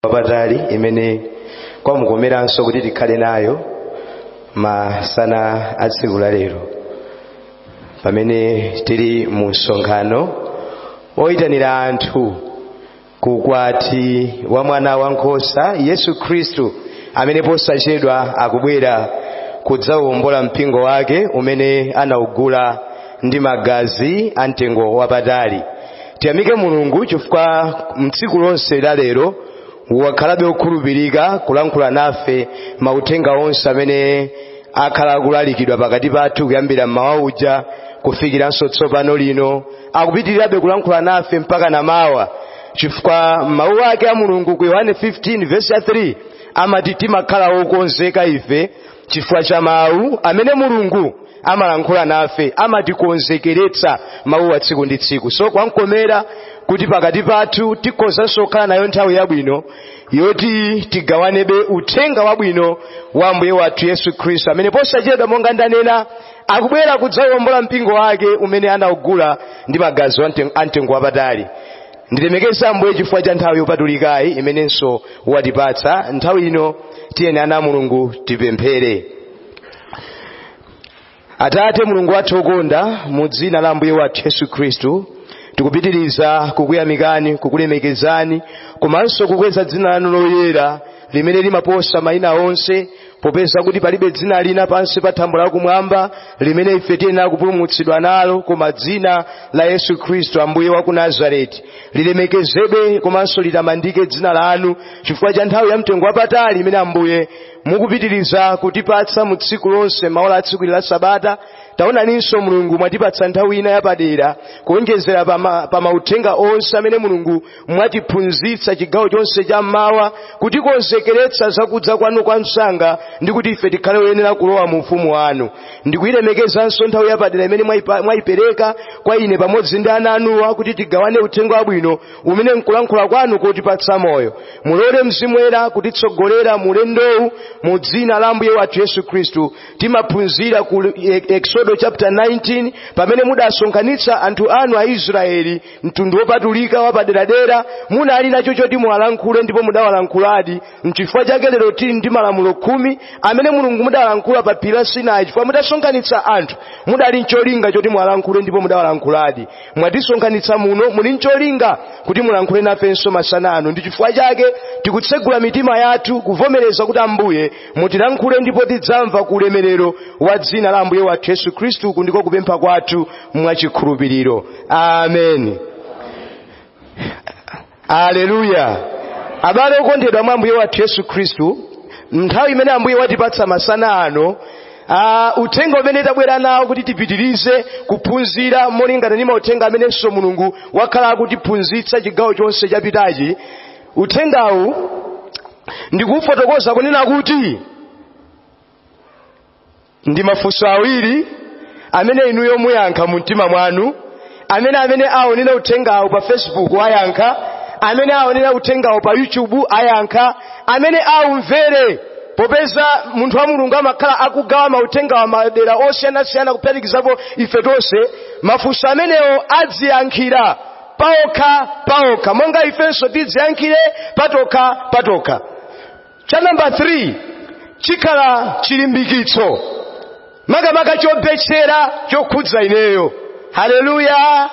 wapatali imene kwamukomeranso kuti tikhale nayo masana a tsiku la lero pamene tili mu msonkhano woyitanira anthu ku ukwati wa mwana wankhosa yesu khristu amene posachedwa akubwera kudzawombola mpingo wake umene anaugula ndi magazi a mtengo wapatali tiyamike mulungu chifukwa mtsiku lonse la lero wakhalabe okhulupirika kulankhula nafe mauthenga onse amene akhala akulalikidwa pakati pathu kuyambira mmawa uja kufikiranso tsopano lino akupitirirabe kulankhula nafe mpaka namawa chifukwa mmawu ake a mulungu ku yohane 15 vesi ya 3 amati timakhala okonzeka ife chifukwa cha mawu amene mulungu amalankhula nafe amatikonzekeretsa mawu a tsiku ndi tsiku so kwankomera kuti pakati pathu tikhozanso kukhala nayo nthawi yabwino yoti tigawanebe uthenga wabwino wa ambuye wathu yesu khristu amene posachedwa monga ndanena akubwera kudzawombola mpingo wake umene anaugula ndi magazi wa mten- a mtengo wapatali ndilemekeza ambuye chifukwa cha nthawi yopatulikayi imenenso watipatsa nthawi ino tiyeni ana a mulungu tipemphere atate mulungu wathu okonda mu dzina la ambuye wathu yesu khristu tikupitiriza kukuyamikani kukulemekezani komanso kukweza dzina lanu loyera limene limaposa mayina onse popeza kuti palibe dzina lina pansi pa thambo lakumwamba limene ife tiyenera kupulumutsidwa nalo koma dzina la yesu khristu ambuye wa ku nazareti lilemekezedwe komanso litamandike dzina lanu chifukwa cha nthawi ya mtengo wapatali imene ambuye mukupitiriza kutipatsa mu tsiku lonse maola a tsiku ili la sabata taonaninso mulungu mwatipatsa nthawi ina yapadera kuonjezera pa ma- pa mauthenga onse amene mulungu mwatiphunzitsa chigawo chonse cha mmawa kutikonzekeretsa zakudza kwanu kwa msanga ndi kuti ife tikhale oyenera kulowa mu ufumu wanu ndikuyilemekezanso nthawi yapadera imene mwayipa- mwayipereka kwa ine pamodzi ndi ana anuwa kuti tigawane uthenga wabwino umene nkulankhula kwanu kotipatsa moyo mulole mzimu woyera kutitsogolera mu ulendowu mu dzina la ambuye wathu yesu khristu timaphunzira ku Eksodo chapter 19 pamene mudasonkhanitsa anthu anu a israeli mtundu wopatulika wapaderadera munali nacho choti muwalankhule ndipo mudawalankhuladi mchifukwa chake lero tili ndi malamulo khumi amene mulungu mudalankhula pa phiri la sinai chifukwa mudasonkhanitsa anthu mudali ncholinga choti muwalankhule ndipo mudawalankhuladi mwatisonkhanitsa muno muli ncholinga kuti mulankhule nafenso masana ano ndi chifukwa chake tikutsegula mitima yathu kuvomereza kuti ambuye mutilankhule ndipo tidzamva ku ulemerero wa dzina la ambuye wathu yesu khristu uku ndiko kupempha kwathu mwachikhulupiriro ameni aleluya abale okondedwa mwa ambuye wathu yesu khristu nthawi imene ambuye watipatsa masana ano Uh, uthenga umene tabwera nawo kuti tipitirize kuphunzira molingana ndi mauthenga amenenso mulungu wakhala akutiphunzitsa chigawo chonse chapitachi uthengawu ndikufotokoza kunena kuti ndi mafunso awiri amene inuyo muyankha mu mtima mwanu amene amene aonera uthengawu pa facebook ayankha amene aonera uthengawu pa youtube ayankha amene aumvere popeza munthu wa mulungu amakhala akugawa mauthengawa madera osiyanasiyana kuphatikizapo ife tonse mafunso amenewo adziyankhire paokha paokha monga ifenso tidziyankhire patokha patokha cha namba 3 chikhala chilimbikitso makamaka chobetchera chokhudza ineyo haleluya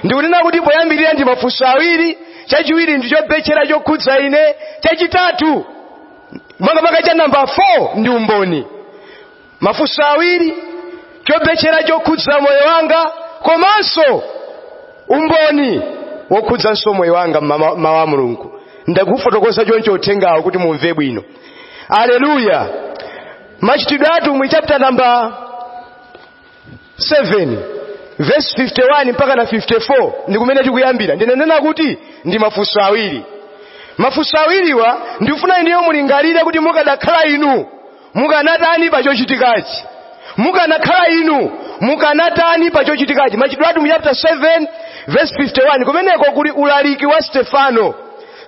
ndikunena kuti poyambirira ndi mafunso awiri chachiwiri ndi chobetchera chokhudza ine chachitatu makamaka cha namba 4 ndi umboni mafunso awiri chobetchera chokhudza moyo wanga komanso umboni wokhudzanso moyo wanga mmawu a mulungu ndakufotokoza chonchi uthengawu kuti mumve bwino aleluya machitidwe a atumwi chapter namba 7 verse 51 mpaka na 54 ndi kumene tikuyambira ndinanena kuti ndi mafunso awiri mafunso awiriwa ndikufuna inuyo mulingalire kuti mukadakhala inu mukanatani pa chochitikachi mukanakhala inu mukanatani pa chochitikachi machitidwe a atumwi chapter 7 verse 51 kumeneko kuli ulaliki wa stefano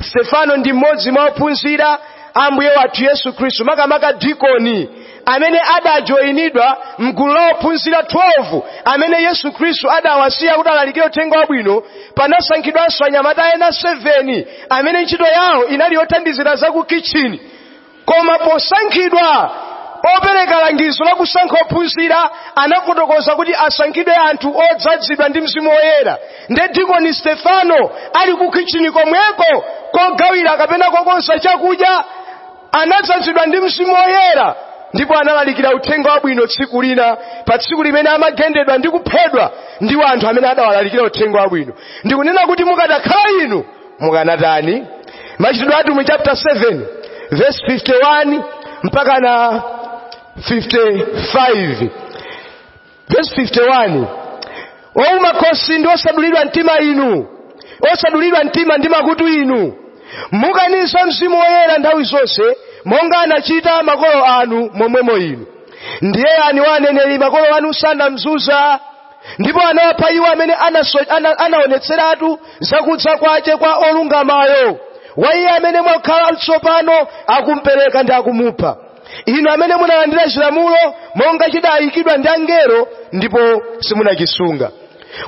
stefano ndi mmodzi mwa ophunzira a ambuye wathu yesu khristu makamaka dikoni amene adajoyinidwa mgulu la ophunzira 12 amene yesu khristu adawasiya kuti alalikire uthenga wabwino panasankhidwanso anyamata ena 7 amene ntchito yawo inali yothandizira za ku kitchini koma posankhidwa opereka langizo la kusankha ophunzira anafotokoza kuti asankhidwe anthu odzadzidwa ndi mzimu woyera nde dikoni stefano ali ku khichini komweko kogawira kapena kokonza chakudya anadzadzidwa ndi mzimu woyera ndipo analalikira uthenga wabwino tsiku lina pa tsiku limene amagendedwa ndi kuphedwa ndi anthu amene adawalalikira uthenga wabwino ndikunena kuti mukadakhala inu mukanatani machitidwe a atumwi chapter 7 verse 51 mpaka na 55 verse 51 ouma khosi ndi osadulidwa mtima inu osadulidwa mtima ndi makutu inu mukaniza mzimu woyera nthawi zonse monga anachita makolo anu momwemo inu ndiye ani wa aneneri makolo anu sanamzunza ndipo anawapha iwo amene anaso- ana- anaonetseratu zakudza kwace kwa olungamayo wa iye amene mwakhala tsopano akumpereka ndi akumupha inu amene munalandira cilamulo monga cidayikidwa ndi angelo ndipo simunacisunga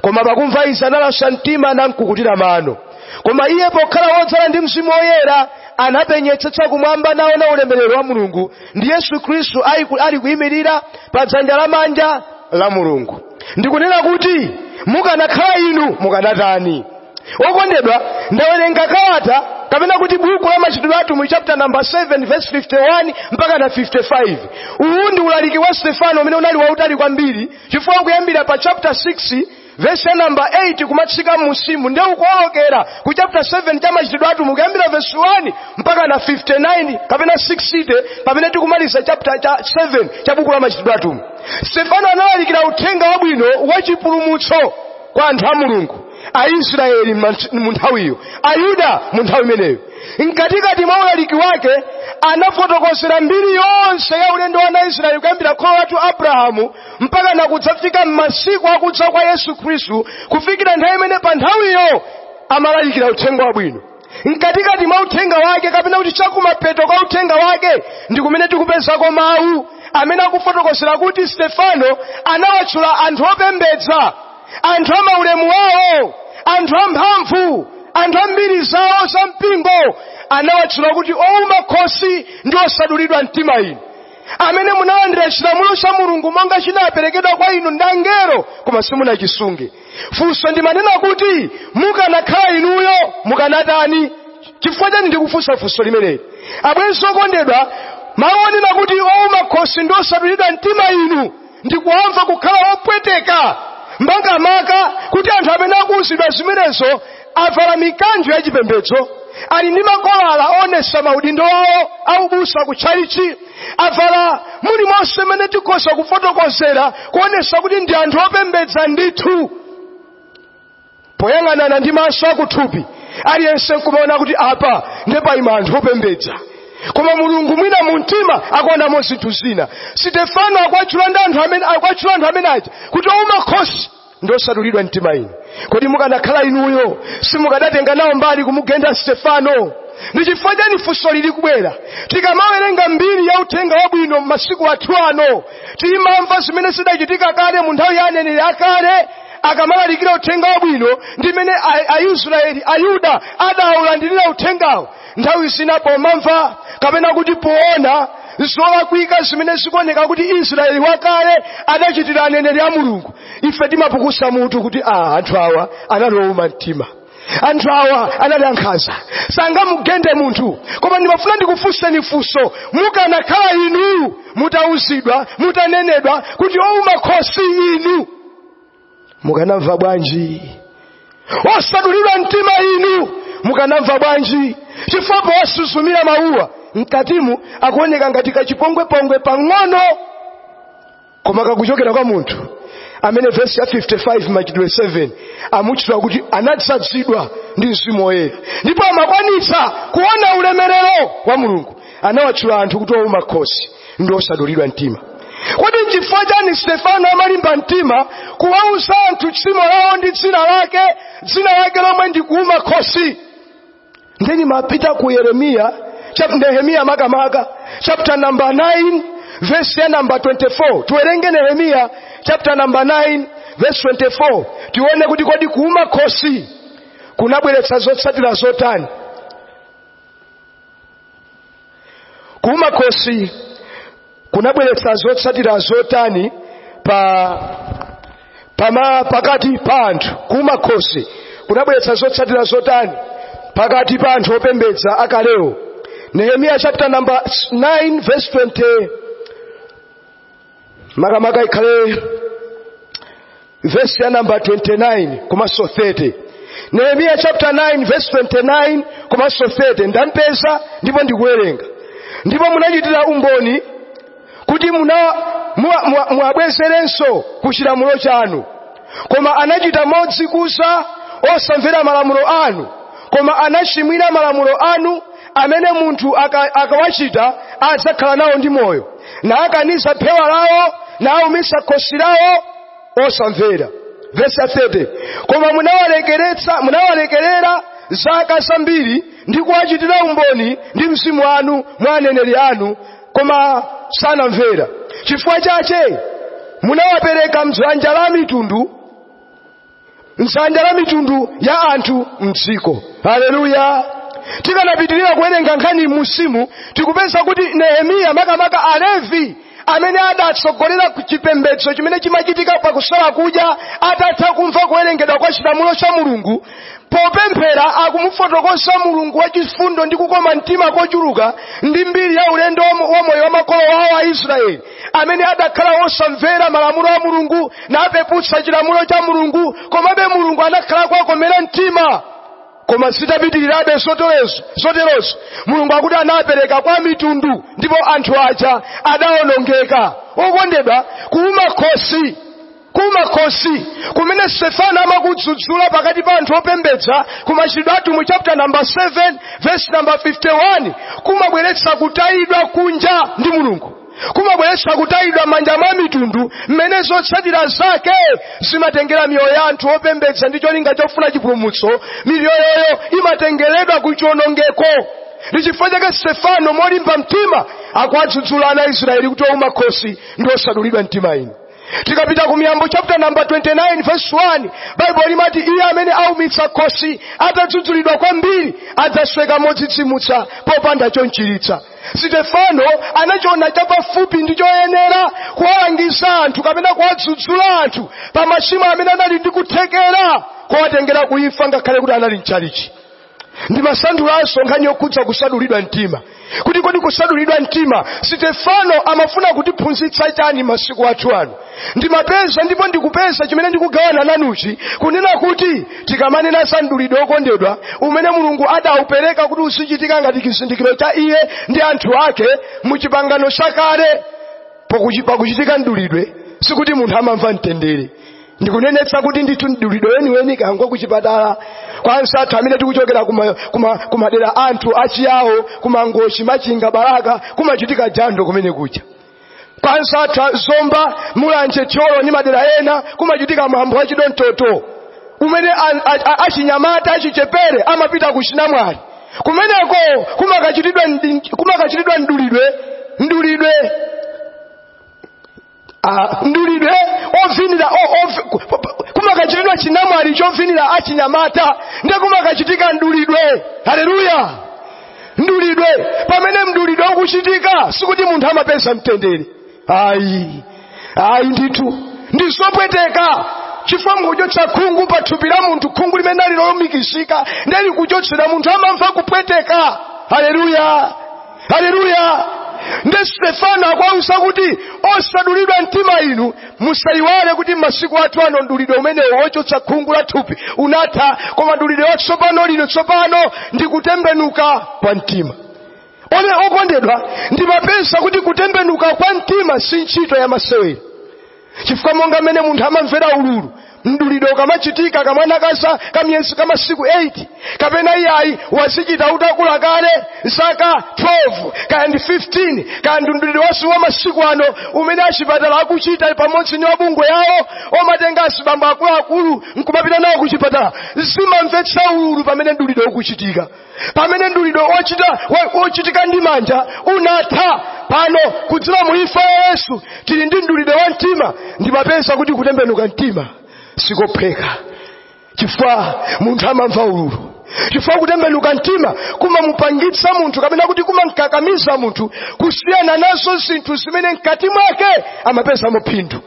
koma pakumva izi analaswa mtima namkukutira mano koma iye pokhala wodzala ndi mzimu woyera anapenyetsetsa kumwamba naona ulemerero wa mulungu ndi yesu khristu ali ku- ali kuyimirira pa dzanja lamanja la mulungu ndikunena kuti mukanakhala inu mukanatani okondedwa ndawerenga kalata kapena kuti buku la machitidwe atumwi chapter number 7 verse 51 mpaka na 55 uwu ndi ulaliki wa stefano umene unali wautali kwambiri chifukwa kuyambira pa chapter 6 vesi ya namba 8 kumatsika m'munsimu nde nkuwolokera ku chapter 7 cha machitidwe atumwi kuyambira vesi 1 mpaka na 59 kapena 60 pamene tikumaliza chapter cha 7 cha buku la machitidwe atumwi stefano analalikira uthenga wabwino wa chipulumutso kwa anthu a mulungu aisraeli mant- mu nthawiyo ayuda mu nthawi imeneyo mkatikati mwa ulaliki wake anafotokozera mbiri yonse ya ulendo wa ana a israeli kuyambira kholo lathu abrahamu mpaka nakudzafika m'masiku akudza kwa yesu khristu kufikira nthawi imene pa nthawiyo amalalikira uthenga wabwino mkatikati mwa uthenga wake kapena kuti chakumapeto kwa uthenga wake ndi kumene tikupezako mawu amene akufotokozera kuti stefano anawatchula anthu opembedza anthu a maulemu wawo anthu amphamvu anthu ambiri zawo za mpingo anawatchula kuti ouma khosi ndi osadulidwa mtima inu amene munalandira chilamulo cha mulungu monga chinaperekedwa kwa inu ndi angelo koma simunachisunge funso ndimanena kuti mukanakhala inuyo mukanatani chifukwa chani ndikufunsa funso limeneli abwenzi okondedwa mawu onena kuti ouma khosi ndi osadulidwa mtima inu ndikuwamva kukhala opweteka makamaka kuti anthu amene akuwuzidwa zimenezo avala mikanjo ya chipembedzo ali ndi makolala oonetsa maudindo awo aubusa ku tchalichi avala mulimonse mmene tikhoza kufotokozera kuonetsa kuti ndi anthu opembedza ndithu poyang'anana ndi maso akuthupi aliyense nkumaona kuti apa nde paima anthu opembedza koma mulungu mwina mu mtima akuonamo zinthu zina sitefano akuwatchula ndi anthu amene akuwatchula anthu amene aja kuti ouma khosi ndi osadulidwa mtima inu kodi mukanakhala inuyo simukadatenga nawo mbali kumugenda stefano ndi chifukwa chani funso lili kubwera tikamawerenga mbiri ya uthenga wabwino m'masiku athu ano timamva zimene zidachitika kale mu nthawi ya aneneri akale akamalalikira uthenga wabwino ndi mmene A- aisraeli ayuda adawulandirira uthengawo nthawi zina pomamva kapena kuti poona zolakwika zimene zikuoneka kuti israeli wakale adachitira aneneri a mulungu ife timapukusa mutu kuti anthu awa anali owuma mtima anthu awa anali ankhanza sangamugende munthu koma ndimafuna ndikufunseni funso mukanakhala inu mutauzidwa mutanenedwa kuti owuma khosi inu mukanamva bwanji osadulidwa mtima inu mukanamva bwanji chifukwa posuzumira mawuwa m'katimu akuoneka ngati kachipongwepongwe pang'ono koma kakuchokera kwa munthu amene vesi ya 55 machitidwe 7 akumutchula kuti anadzadzidwa ndi mzimu woyera ndipo amakwanitsa kuona ulemerero wa mulungu anawatchula anthu kuti ouma khosi ndi osadulidwa mtima kodi nchifukwa chani stefano amalimba mtima kuwauza anthu tchimo lawo ndi dzina lake dzina lake lomwe ndi kuuma khosi ndiye timapita ku yeremiya chap- nehemiya makamaka chapter number 9 verse ya number 24 tiwerenge nehemiya chapter number 9 verse 24 tione kuti kodi kuuma khosi kunabweretsa zotsatira zotani kuuma khosi kunabweretsa zotsatira zotani pakati pa anthu kuuma khosi kunabweretsa zotsatira zotani pakati pa anthu opembedza akalewo nehemiya chapter number 9 verse 20 makamaka ikhale vesi ya namba 29 komanso 30 nehemiya chapter 9 verse 29 komanso 30 ndapeza ndipo ndikuwerenga ndipo munachitira umboni kuti muna muwa- muwa- muwabwezerenso ku chilamulo chanu koma anachita modzikuza osamvera malamulo anu koma anachimwira malamulo anu amene munthu aka- akawachita adzakhala nawo ndi moyo nakaniza phewa lawo naumitsa khosi lawo osamvera vesi 30 koma munawalekeretsa munawalekerera zaka zambiri ndi kuwachitira umboni ndi mzimu wanu mwa aneneri anu koma sanamvera chifukwa chache munawapereka m'dzanja la mitundu m'dzanja la mitundu ya anthu m'dziko haleluya tikanapitirira kuwerenga nkhani m'musimu tikupeza kuti nehemiya makamaka alevi amene adatsogolera ku chipembedzo chimene chimachitika pakusala kudya atatha kumva kuwerengedwa kwa chilamulo cha mulungu popemphera akumufotokoza mulungu wachifundo ndi kukoma mtima kochuluka ndi mbiri ya ulendo wa mo- wa moyo wa makolo wawo a israeli amene adakhala wosamvera malamulo a mulungu napeputsa chilamulo cha mulungu komabe mulungu anakhala akuwakomera mtima koma zitapitirirabe zoterozi mulungu akuti anapereka kwa mitundu ndipo anthu aja adawonongeka okondedwa kuuma khosi kuuma khosi kumene stefano amakudzudzula pakati pa anthu opembedza ku machitidwe a atumwi chapter number 7 verse number 51 kumabweretsa kutayidwa kunja ndi mulungu kumabweretsa kutayidwa manja mwa mitundu mwamene zotsatira zake zimatengera miyoyo ya anthu opembedza ndi cholinga chofuna chipulumutso miyoyoyo imatengeredwa ku chionongeko ndi chifukwa chake stefano molimba mtima akuwadzudzula ana a israeli kuti ouma khosi ndi osadulidwa mtima inu tikapita ku miyambo chapter number 29 verse 1 baibulo limati iye amene aumitsa khosi atadzudzulidwa kwambiri adzasweka modzidzimutsa popanda chomchiritsa sitefano anachiona chapafupi n'choyenera kuwalangiza anthu kapena kuwadzudzula anthu pa machimo amene anali ndi kuthekera kuwatengera kuimfa ngakhale kuti anali mchalichi ndimasanthulanso nkhani yokhudza kusadulidwa mtima kuti kodi kusadulidwa mtima sitefano amafuna kutiphunzitsa chani masiku athu ano ndimapeza ndipo ndikupeza chimene ndikugawana nanuchi kunena kuti tikamanena za mdulidwe okondedwa umene mulungu adaupereka kuti uzichitika ngati chizindikiro cha iye ndi anthu ake mu chipangano chakale pakuchitika mdulidwe sikuti munthu amamva mtendere ndikunenetsa kuti ndithu mdulidwe weniweni kangakhale kuchipatala kwa ansathu amene tikuchokera kuma- kuma- kumadera anthu achiyawo kumangochi machinga balaka kumachitika jando kumene kuja kwa ansathu a zomba mulanje thyolo ndi madera ena kumachitika mwambo wa chidontoto umene a- a- a- achinyamata achichepere amapita kuchinamwali kumeneko kumakachitidwa ndi- kumakachitidwa mdulidwe mdulidwe Ah, mdulidwe ovinira o- ov- ku- ku- kumakachitidwa chinamwali chovinira achinyamata ndiye kumakachitika mdulidwe haleluya mdulidwe pamene mdulidwe ukuchitika sikuti munthu amapeza mtendere ayi ayi ndithu ndizopweteka chifukwa mukuchotsa khungu pa thupi la munthu khungu limene ali lolumikizika ndiye likuchotsedwa munthu amamva kupweteka haleluya haleluya nde stefano akuwauza kuti osadulidwa mtima inu musayiwale kuti mmasiku athu ano mdulidwe umenewo wochotsa khungu la thupi unatha koma mdulidwe wa tsopano lino tsopano ndi kutembenuka kwa mtima one okondedwa ndimapeza kuti kutembenuka kwa mtima si ntchito ya masewera chifukwa monga mmene munthu amamvera ululu mdulidwe ukamachitika kamwana ka za kamiyezi kamasiku 8 kapena iyayi wazichita utakula kale zaka 12 kaya ndi 15 kaya ndi mdulidwe wathu wa masiku ano umene achipatala akuchita pamodzi ndi mabungwe awo omatenga azibambo akuluakulu nkumapita nawo kuchipatala zimamvetsa ululu pamene mdulidwe ukuchitika pamene mdulidwe wochita- wo- wochitika ndi manja unatha pano kudzera mu imfa ya yesu tili ndi mdulidwe wa mtima ndimapeza kuti kutembenuka mtima sikophweka chifukwa munthu amamva ululu chifukwa kutembenuka mtima kumamupangitsa munthu kapena kuti kumamkakamiza munthu kusiyana nazo zinthu zimene mkati mwake amapezamo phindu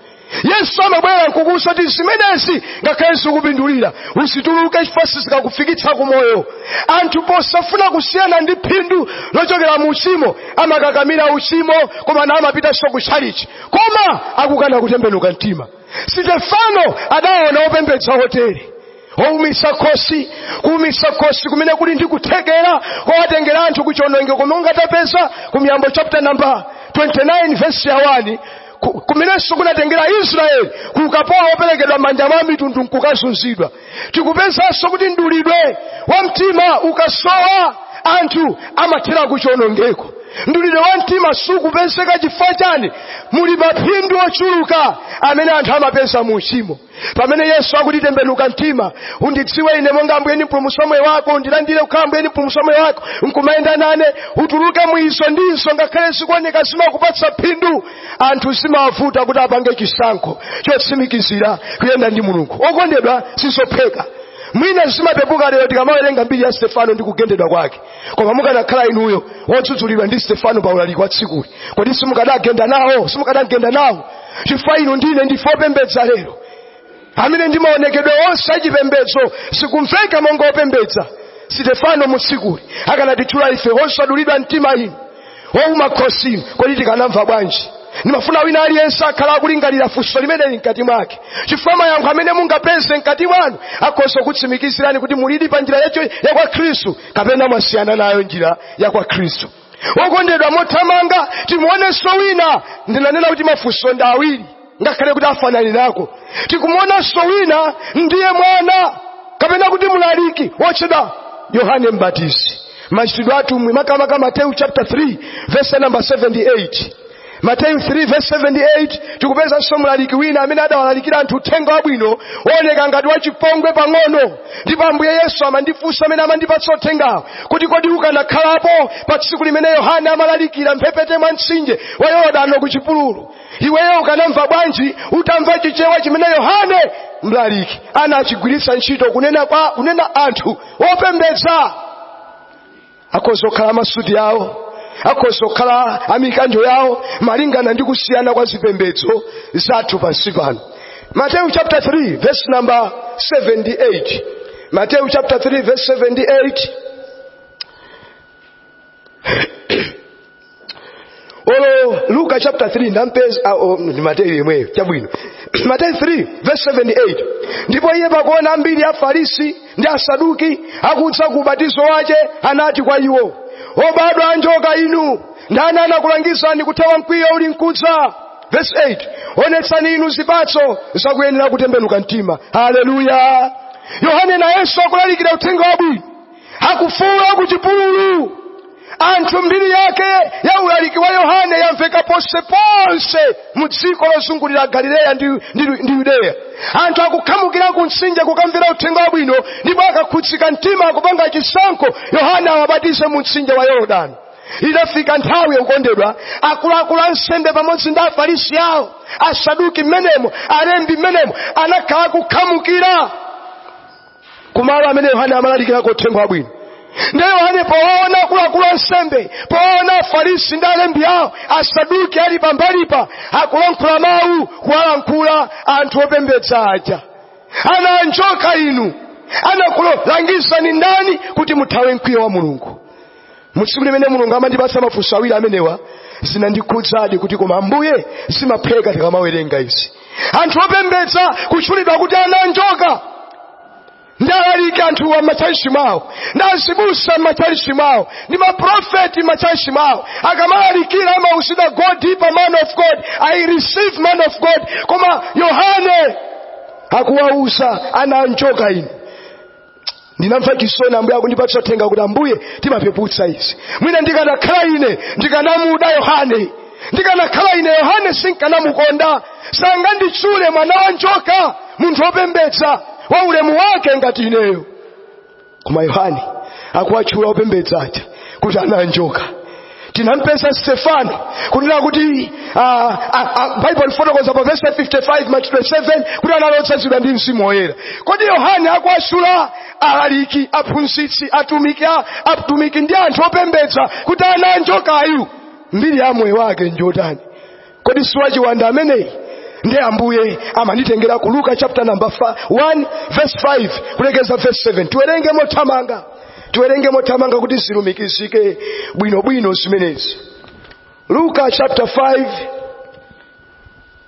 yesu amabwera nkukuuza kuti zimenezi ngakhale zikupindulira uzituluke chifukwa sizikakufikitsa ku moyo anthu posafuna kusiyana ndi phindu lochokera mu uchimo amakakamira uchimo koma naamapitanso ku tchalichi koma akukana kutembenuka mtima stefano adaona opembedza otere oumisa khosi kuumisa khosi kumene kuli ndi kuthekera kowatengera anthu kuchionongeko mmene ungatapeza ku miyambo chapter number 29 verse ya 1 ku- kumenenso kunatengera israeli ku ukapolo woperekedwa mmanja mwa mitundu nkukazunzidwa tikupezanso kuti mdulidwe wa mtima ukasowa anthu amathera kuchionongeko mdulidwe wa mtima sukupezeka chifukwa chani muli maphindu ochuluka amene anthu amapeza mu uchimo pamene yesu akuti tembenuka mtima undidziwe ine monga ambuye ndi mpulumutsi wa moyo wako undilandire kukhala ambuye ndi mpulumutsi wa moyo wako nkumayenda nane utuluke mu izo ndinso ngakhale zikuoneka zimakupatsa phindu anthu zimawavuta kuti apange chisankho chotsimikizira kuyenda ndi mulungu okondedwa sizophweka mwina zimapepuka lero tikamawerenga mbiri ya stefano ndi kugendedwa kwake koma mukanakhala inuyo wodzudzulidwa ndi stefano pa ulaliki wa tsikuli kodi simukadagenda nawo simukadagenda nawo chifukwa inu ndi ine ndife opembedza lero amene ndi maonekedwe onse achipembedzo zikumveka monga opembedza stefano mu tsikuli akanatitchula ife osadulidwa mtima inu ouma khosi inu kodi tikanamva bwanji ndimafuna wina aliyense akhale akulingalira funso limeneli mkati mwake chifukwa mayankho amene mungapeze mkati mwanu akhoza kukutsimikizirani kuti mulidi pa njira yacho ya kwa khristu kapena mwasiyana nayo njira ya kwa khristu wokondedwa mothamanga timuonenso wina ndinanena kuti mafunso ndi awiri ngakhale kuti afananako tikumuonanso wina ndiye mwana kapena kuti mlaliki wotchedwa yohane mbatizi machitidwe atumwi makamaka mateyu chapter 3 verse number 7 8 mateyu 3 7 8 tikupezanso mlaliki wina amene adawalalikira anthu uthenga wabwino wooneka ngati wachipongwe pang'ono ndipo ambuye yesu amandifunsa amene amandipatsa uthengawo kuti kodi ukanakhalapo pa tsiku limene yohane amalalikira mphepete mwa mtsinje wa yorodano ku chipululu iweyo ukanamva bwanji utamva chichewa chimene yohane mlaliki anachigwiritsa ntchito kunena kwa kunena anthu opembedza akhoza kukhala masuti awo akhoza kukhala amikanjo yawo malingana ndi kusiyana kwa zipembedzo zathu pansi pano mateyu chapter 3 verse number 7 8 mateyu chapter 3 verse 7 8 olo luka chapter 3 ndampeza uh, um, ndi mateyu yemweyo chabwino mateyu 3 verse 7 8 ndipo iye pakuona ambiri afarisi ndi asaduki akudza ku ubatizo wache anati kwa iwo obadwa anjoka inu ndani anakulangizani kuthawa mkwiyo uli nkudza verse 8 onetsani inu zipatso zakuyenera kutembenuka mtima haleluya yohane nayenso akulalikira uthenga wabwino akufuula kuchipululu anthu mbiri yake ya ulaliki wa yohane yamveka ponseponse mu dziko lozungulira galileya ndi, ndi, ndi yudeya anthu akukhamukira ku mtsinje kukamvera uthenga wabwino ndipo akakhudzika mtima akupanga chisankho yohane awabatize mu mtsinje wa yorodani idafika nthawi yake okondedwa akuluakulu ansembe pamodzi ndi afarisi awo asaduki mmenemo alembi mmenemo anakhala akukhamukira kumalo amene yohane amalalikirako uthenga wabwino nde yohane powaona akuluakulu ansembe powaona afarisi ndi alembi awo asaduki ali pambalipa akulankhula mawu kuwalankhula anthu opembedza aja ana anjoka inu anakulangizani ndani kuti muthawe mkwiyo wa mulungu mu tsiku limene mulungu amandipatsa mafunso awiri amenewa zinandikhudzadi kuti koma ambuye zimaphweka tikamawerenga izi anthu opembedza kutchulidwa kuti ana anjoka ndi alaliki anthu a m'matchalichi mwawo ndi azibusa m'matchalichi mwawo ndi maprofeti m'matchalichi mwawo akamalalikira amauzidwa go deeper man of god i receive man of god koma yohane akuwauza ana anjoka inu ndinamva chisoni ambuye akundipatsa uthenga kuti ambuye timapeputsa izi mwina ndikanakhala ine ndikanamuda yohane ndikanakhala ine yohane sinkanamukonda sanganditchule mwana wa njoka munthu wopembedza wa ulemu wake ngati ineyo koma yohane akuwatchula opembedza aja kuti ana a njoka tinampeza stefano kunena kuti ah, ah, ah, baibulo lifotokoza pa vesi 55 machitidwe 7 kuti anali odzazidwa ndi mzimu woyera kodi yohane akuwatchula alaliki aphunzitsi atumiki a- atumiki ndi anthu opembedza kuti ana anjokayu mbiri ya moyo wake njotani kodi siwachiwanda ameneyi ndi ambuye amanditengera ku luka chapter number 1 verse 5 kulekeza verse 7 tiwerenge mothamanga tiwerenge mothamanga kuti zilumikizike bwinobwino zimenezi luka chapter 5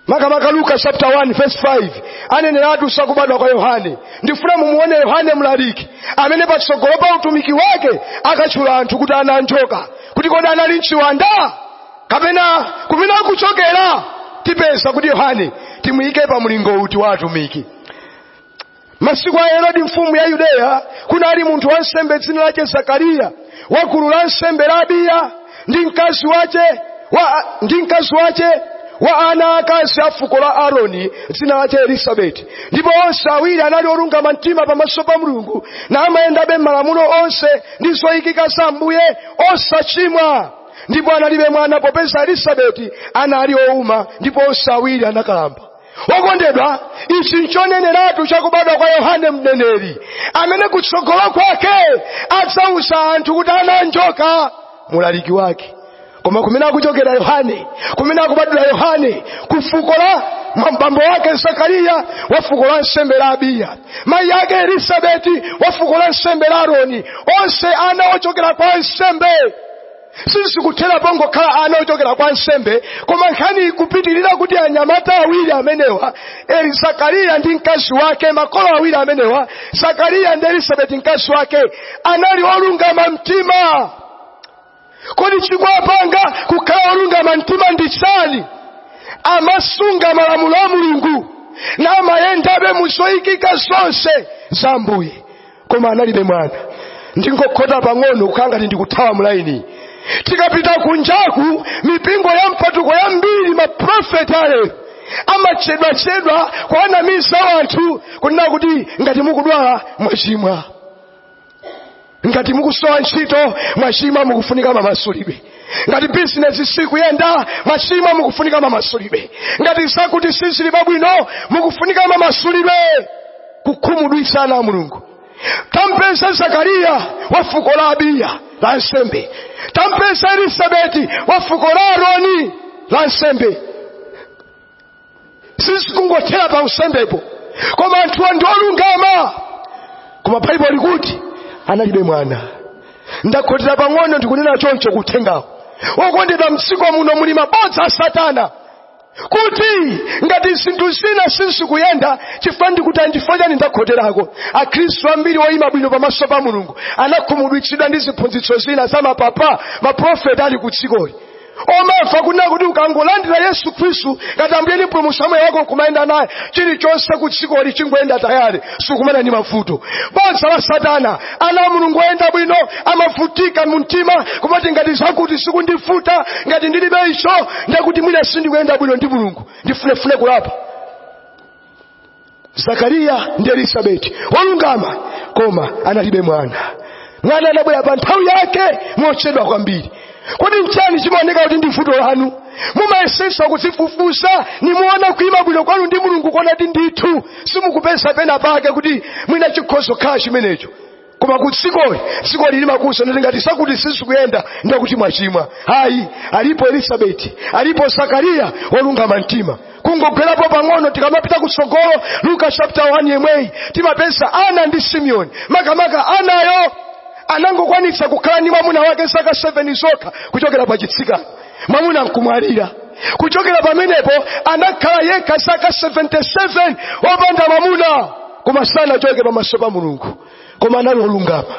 makamaka luka chapter 1 verse 5 aneneratu sakubadwa kwa yohane ndifuna mumuone yohane mulaliki amene patsogolo pa utumiki wake akatchula anthu kuti ana a njoka kuti kodi anali nchiwanda kapena kumene akuchokera tipeza kuti yohane timuyike pa mlingo uti wa atumiki masiku a herodi mfumu ya yudea kunali munthu wansembe dzina lace zakariya wa gulu la nsembe la abiya ndi mkazi wace wa, ndi mkazi wace wa ana akazi a fuko la aroni dzina lace elisabeti ndipo onse awiri anali olungama mtima pamaso pa mulungu namayendabe m'malamulo onse ndi zoyikika za ambuye osachimwa ndipo analibe mwana popeza elisabeti anali ouma ndipo onse awiri anakalamba okondedwa ichi nchoneneratu chakubadwa kwa yohane mneneri amene kutsogolo kwake adzauza anthu kuti ana anjoka mulaliki wake koma kumene akuchokera yohane kumene akubadwira yohane ku fuko la kwa bambo ake zakariya wa fuko la nsembe la abiya mayi ake elisabeti wa fuko la nsembe la aroni onse ana ochokera kwa nsembe sizikuthera pongokhala ana ochokera kwa nsembe koma nkhani ikupitirira kuti anyamata awiri amenewa eli zakariya ndi mkazi wake makolo awiri amenewa zakariya ndi elisabeti mkazi wake anali olungama mtima kodi chikwapanga kukhala olungama mtima ndi chani amasunga malamulo a mulungu namayendabe muzoyikika zonse za ambuye koma analibe mwana ndingokhota pang'ono kukhala ngati ndikuthawa mulaini tikapita kunjaku mipingo ya mpatuko yambiri maprofeti ena amatchedwatchedwa kuwanamiza wanthu kunena kuti ngati mukudwala mwachimwa ngati mukusowa ntchito mwachimwa mukufunika mamasulidwe ngati bizinesi sikuyenda mwachimwa mukufunika mamasulidwe ngati zakuti sizili pabwino mukufunika mamasulidwe kukhumudwitsa ana a mulungu tampeza zakariya wa fuko la abiya la ansembe tampeza elisabeti wa fuko la aroni la ansembe sizikungothera pa unsembepo koma anthuwa ndi olungama koma baibulo likuti analibe mwana ndakhotera pang'ono ndikunena choncho kuteteza okondedwa mdziko muno muli mabodza a satana kuti ngati zinthu zina sizikuyenda chifukwa ndikuti a nchifukwa chani ndakhoterako akhristu ambiri oyima bwino pamaso pa mulungu anakhumudwitsidwa ndi ziphunzitso zina za mapapa maprofeta ali ku dzikoli omafa kunena kuti ukangolandira yesu khristu ngati ambuye ndi mpulumutsi wa moyo wako kumayenda naye chilichonse ku dzikoli chingoyenda tayale sukumana ndi mavuto bodza la satana ana a mulungu oyenda bwino amavutika mu mtima kumati ngati zakuti zikundivuta ngati ndilibe icho ndekuti mwina sindikuyenda bwino ndi mulungu ndifunefune kulapa zakariya ndi elisabeti wolungama koma analibe mwana mwana anabwera pa nthawi yake mochedwa kwambiri kodi nchani chimaoneka kuti ndi vuto lanu mumayesesa kudzifufuza nimuona kuima bwino kwanu ndi mulungu kuona kuti ndithu simukupeza pena pake kuti mwina chikhoza kukhala chimenecho koma ku dzikoli dzikoli limakuuza ndati ngati zakuti sizikuyenda ndekuti mwachimwa ayi alipo elisabeti alipo zakariya wolungama mtima kungogwerapo pang'ono tikamapita kutsogolo luka chapter 1 yemweyi timapeza ana ndi simeoni makamaka anayo anangokwanitsa kukhala ndi mwamuna wake zaka 7 zokha kuchokera pa chitsikana mwamuna nkumwalira kuchokera pamenepo anakhala yekha zaka 77 opanda mwamuna koma sanachoke pamaso pa mulungu koma anali olungama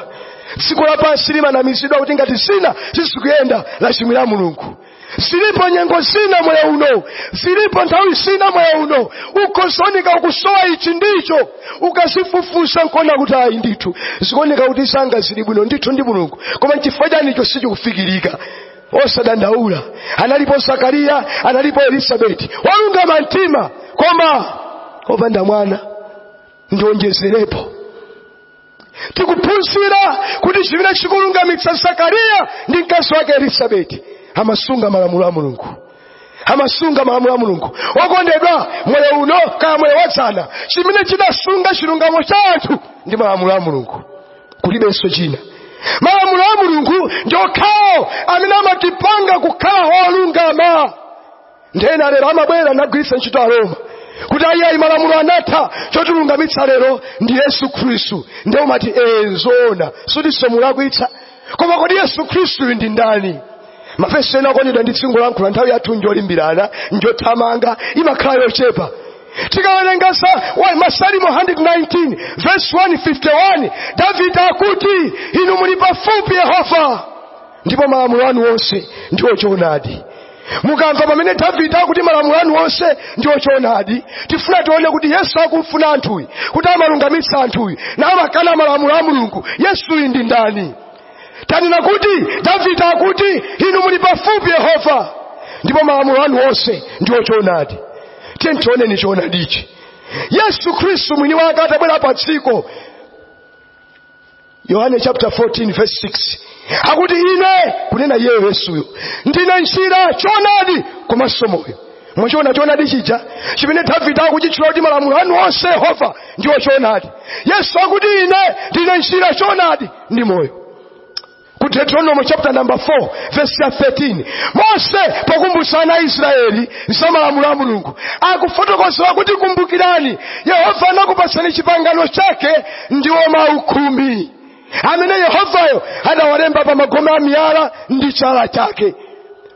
dziko lapansi limanamizidwa kuti ngati zina sizikuyenda lachimwira mulungu zilipo nyengo zina moyo uno zilipo nthawi zina moyo uno ukuoneka ukusowa ichi ndi icho ukazifufuza nkona kuti ayi ndithu zikuoneka kuti zanga zili bwino ndithu ndi mulungu koma nchifukwa chani icho sichikufikirika osadandaula analipo zakariya analipo elisabeti wolungama mtima koma opanda mwana ndionjezerepo tikuphunzira kuti chimene chikulungamitsa zakariya ndi mkazi wake elisabeti amasunga malamulo a mulungu amasunga malamulo a mulungu okondedwa moyo uno kaya moyo wadzana chimene chidasunga chilungamo cha anthu ndi malamulo a mulungu kulibenso china malamulo a mulungu ndi okhawo amene amatipanga kukhala olungama nde ena lero amabwera nagwiritsa ntchito aroma kuti ayiyayi malamulo anatha chotilungamitsa lero ndi yesu khristu ndiye umati ee nzoona sikutinso mulakwitsa koma kodi yesu khristuyu ndi ndani mavesi ena okondedwa ndizingolankhula nthawi yathu njolimbirana njothamanga imakhala yochepa tikawerenga sa- wa- masalimo 119 verse 151 davide akuti inu muli pafupi yehova ndipo malamulo anu onse ndiwo choonadi mukamva pamene davide akuti malamulo anu onse ndi ochoonadi tifuna tione kuti yesu akumfuna anthuyi kuti amalungamitsa anthuyi namakana malamulo a mulungu yesuyi ndi ndani tanena kuti davide akuti inu muli pafupi yehova ndipo malamulo anu onse ndi ochoonadi tiyeni tioneni choonadichi yesu khristu mwini wake atabwera pa dziko yohane chapter 14 verse 6 akuti ine kunena iyeyo yesuyo ndine njira choonadi komanso moyo mwachiona choonadi chija chimene davide akuchitchula kuti malamulo anu onse yehova ndiwo choonadi yesu akuti ine ndine njira choonadi ndi moyo ku deuteronomo chapter number 4 verse ya 13 mose pokumbutsa ana a israeli za malamulo a mulungu akufotokozera kuti kumbukirani yehova anakupatsani chipangano chake ndiwo mawu khumi amene yehovayo adawalemba pa magome a miyala ndi chala chake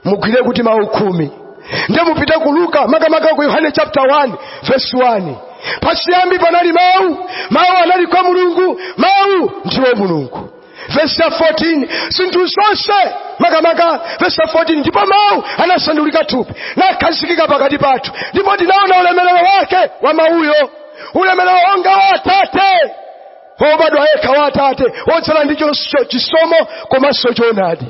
mugwire kuti mawu khumi ndiye mupite ku luka makamaka ku yohane chapter 1 verse 1 pachiyambi panali mawu mawu anali kwa mulungu mawu ndiwo mulungu vesi ya 14 zinthu zonse makamaka vesi ya 14 ndipo mawu anasandulika thupi nakhazikika pakati pathu ndipo tinaona ulemerero wake wa mawuyo ulemerero wonga wa atate wobadwa yekha wa atate wodzala ndi chos- cho- chisomo komanso choonadi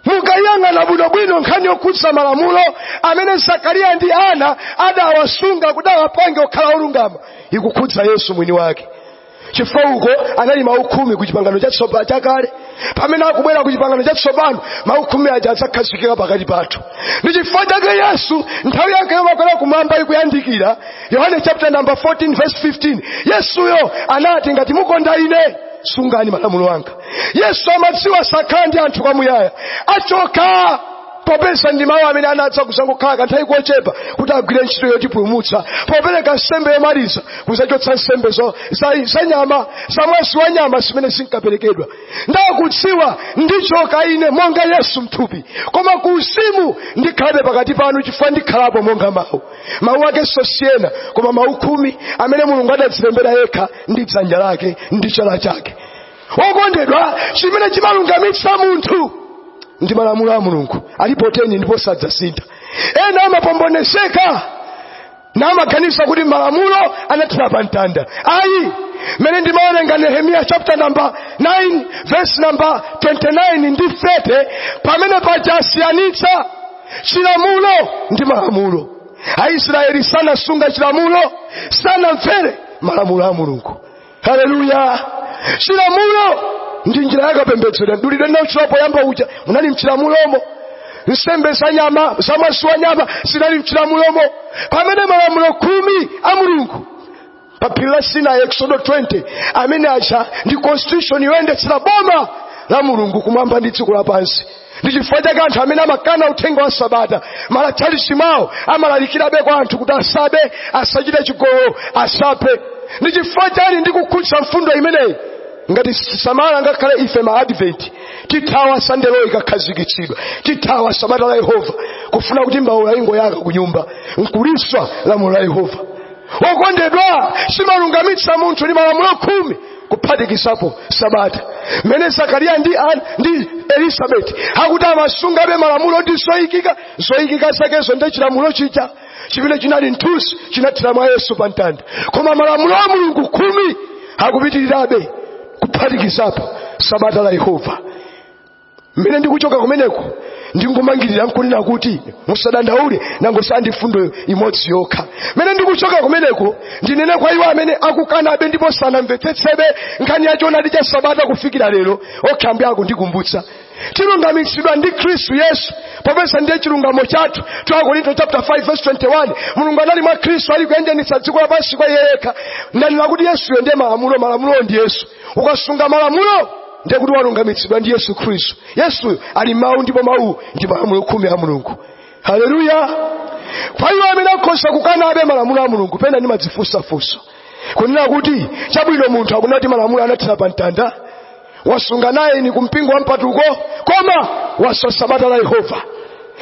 mukayang'ana bwinobwino nkhani yokhudza malamulo amene zakariya ndi ana adawasunga kuti awapange okhala olungama ikukhudza yesu mwini wake chifukwa uko anali mawu khumi ku chipangano chatsopano chakale pamene akubwera ku chipangano chatsopano mawu khumi aja azakhazikika pakati pathu ndi chifukwa chake yesu nthawi yake yomakwera kumwamba ikuyandikira yohane chapter number 14 verse 15 yesuyo anati ngati mukonda ine sungani malamulo anga yesu amadziwa sakhala ndi anthu kwamuyaya achoka popeza ndi mawu amene anadza kuzangokhala kanthawi kochepa kuti agwire ntchito yotipulumutsa popereka nsembe yomaliza kuzachotsa nsembe zo- za- za nyama za mwazi wa nyama zimene zinkaperekedwa ndakudziwa ndichoka ine monga yesu mthupi koma ku uzimu ndikhalabe pakati panu chifukwa ndikhalapo monga mawu mawu akenso si ena koma mawu khumi amene mulungu adadzilembera yekha ndi dzanja lake ndi chala chake wokondedwa chimene chimalungamitsa munthu ndi malamulo a mulungu alipo teni ndipo sadzasintha ena amapombonezeka namaganiza kuti malamulo anathera pa mtanda ayi mmene ndimawerenga nehemiya chapter number 9 verse number 29 ndi 30 pamene pajasiyanitsa chilamulo ndi malamulo aisraeli sanasunga chilamulo sanamvere malamulo a mulungu haleluya chilamulo n njira yakapembedzera mdulidwe ndinautchula poyamba uja munali mchilamulomo nsembe za nyama za mwazi wa nyama zinali mchilamulomo pamene malamulo khumi a mulungu pa phiri la sinai eksodo 20 amene aja ndi constitution yoyendetsera boma la mulungu kumwamba ndi dziko lapansi ndi chifukwa chake anthu amene amakana uthenga wa sabata m'matchalitchi mwawo amalalikirabe kwa anthu kuti asabe asachite chigololo asaphe ndi chifukwa chiyani ndikukhutsa mfundo imeneyi ngati sitisamala ngakhale ife ma adventi tithawa sunday law ikakhazikitsidwa tithawa sabata la yehova kufuna kuti mbaula ingoyaka ku nyumba nkuliswa lamulo la yehova okondedwa samalungamitsa munthu ndi malamulo khumi kuphatikizapo sabata mmene zakariya ndi, an- ndi elisabeti akuti amasungabe malamulo ndi zoyikika zoyikika zakezo nde chilamulo chija chimene chinali mthunzi chinathera mwa yesu pa mtanda koma malamulo a mulungu khumi akupitirirabe kuphatikizapo sabata la yehova mmene ndikuchoka kumeneko ndingomangirira nkunena kuti musadandaule nangosala ndi mfundo imodzi yokha mmene ndikuchoka kumeneko ndinene kwa iwo amene akukanabe ndipo sanamvetsetsebe nkhani ya choonadi cha sabata kufikira lero okha mwako ndikumbutsa tilungamitsidwa ndi khristu yesu popeza ndiye chilungamo chathu 2 akorinto chapter 5 verse 21 mulungu anali mwa khristu ali kuyanjanitsa dziko lapansi kwa iye yekha ndanena kuti yesuyo ndiye malamulo malamulowo ndi yesu ukasunga malamulo ndiye kuti walungamitsidwa ndi yesu khristu yesuyo ali mawu ndipo mawu ndi malamulo khumi a mulungu haleluya kwa iwo amene akhoza kukanabe malamulo a mulungu pena ndimadzifunsa funso kunena kuti chabwino munthu akunena kuti malamulo anathera pa mtanda wasunga nayini kumpingo wa mpatuko koma waswa sabata la yehova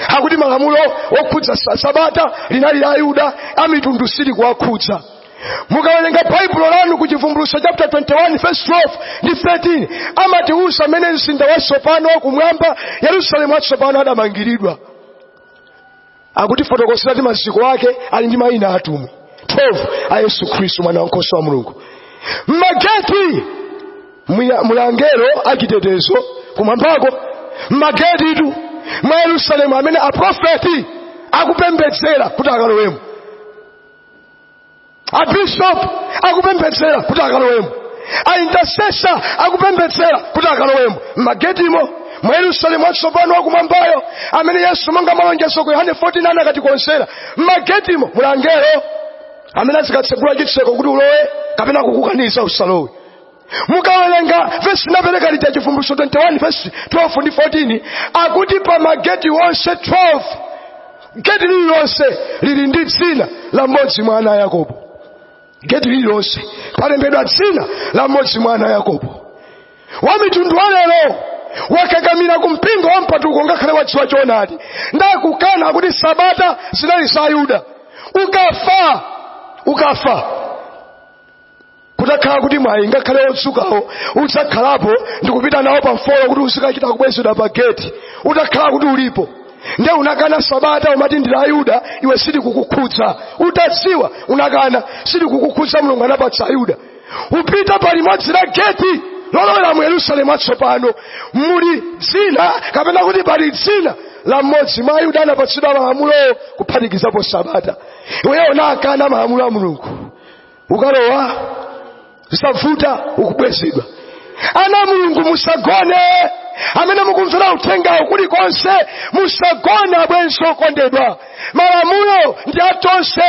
akuti malamulo okhudza sa- sabata linali la ayuda amitundu silikuwakhudza mukawerenga baibulo lanu ku chivumbulutso chapter 21 verse 12 ndi 13 amatiuza mmene mzinda watsopano wakumwamba yerusalemu watsopano adamangiridwa akutifotokozera kuti maziko ake ali ndi mayina atumwi 12 a yesu khristu mwana wankhosa wa mulungu mmageti mwiya- muli angelo achitetezo kumwambako mmagetitu mwa yerusalemu amene aprofeti akupembedzera kuti akalowemo abishop akupembedzera kuti akalowemo aintercessor akupembedzera kuti akalowemo m'magetimo mwa yerusalemu watsopano wakumwambayo amene yesu monga malonjezo ku yohane 14 akatikonzera m'magetimo muli angelo amene azikatsegula chitseko kuti ulowe kapena kukukaniza usalowe mukawerenga vesi ndinapereka lija chivumbulutso 21 vesi 12 ndi 14 akuti pa mageti onse 12 geti lililonse lili ndi dzina la mmodzi mwa ana a yakobo geti lililonse palembedwa dzina la mmodzi mwa ana a yakobo wa mitundu wa lero wakakamira ku mpingo wa mpatuko ngakhale wadziwa choonadi nde akukana akuti sabata zinali za ayuda ukafa ukafa kutakhala kuti mwayi ngakhale odzukawo udzakhalapo ndikupita nawo pa mfolo kuti uzikachita kubwezedwa pa geti utakhala kuti ulipo nde unakana sabata umati ndi la ayuda iwe sili kukukhudza utadziwa unakana sili kukukhudza mulungu anapatsa ayuda upita pa limodzi la geti lolowera mu yerusalemu watsopano muli dzina kapena kuti pali dzina la mmodzi mwa ayuda anapatsidwa malamulowo kuphatikizapo sabata iweyo unakana malamulo a mulungu ukalowa zosavuta ukabwezedwa ana a mulungu musagone amene mukumvera uthengawo kulikonse musagone abwenzi okondedwa malamulo ndi atonse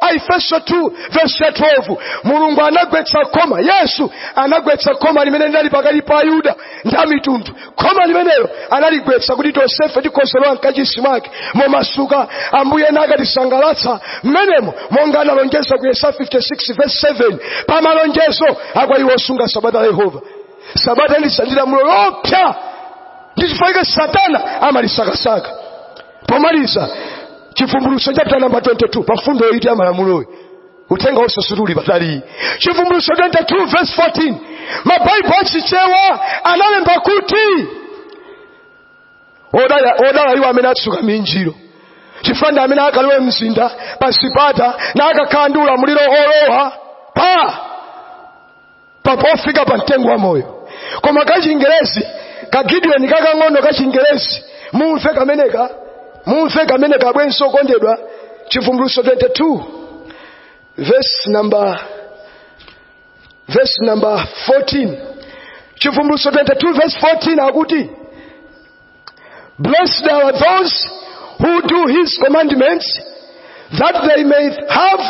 aefeso 2 verse 12 mulungu anagwetsa khoma yesu anagwetsa khoma limene linali pakati pa ayuda ndi amitundu khoma limenelo analigwetsa kuti tonsefe tikhoze kulowa mkachisi mwake momasuka ambuye nakatisangalatsa mmenemo monga analonjeza ku yesaya 56 verse 7 pa malonjezo akwa iwo osunga sabata la yehova sabata ndi lamulo loopsa ndi chifukwa chake satana amalisakasaka pomaliza chivumbulutso chapita namba 22 pa mfundo ya eyiti ya malamuloyi uthenga wosatsutsa uli pataliyi chivumbulutso 22 verse 14 mabaibulo achichewa analemba kuti odala odala iwo amene atsuka minjiro chifukwa ndi amene akalowe mzinda pa zipata na akakhala ndi ulamuliro olowa pa pa pofika pa mtengo wa moyo koma kachingerezi kagidiyoni kakang'ono kachingerezi mumve kameneka mumve kamene abwenzi okondedwa chivumbulutso 22 verse number verse number 14 chivumbulutso 22 verse 14 akuti Blessed are those who do his commandments, that they may have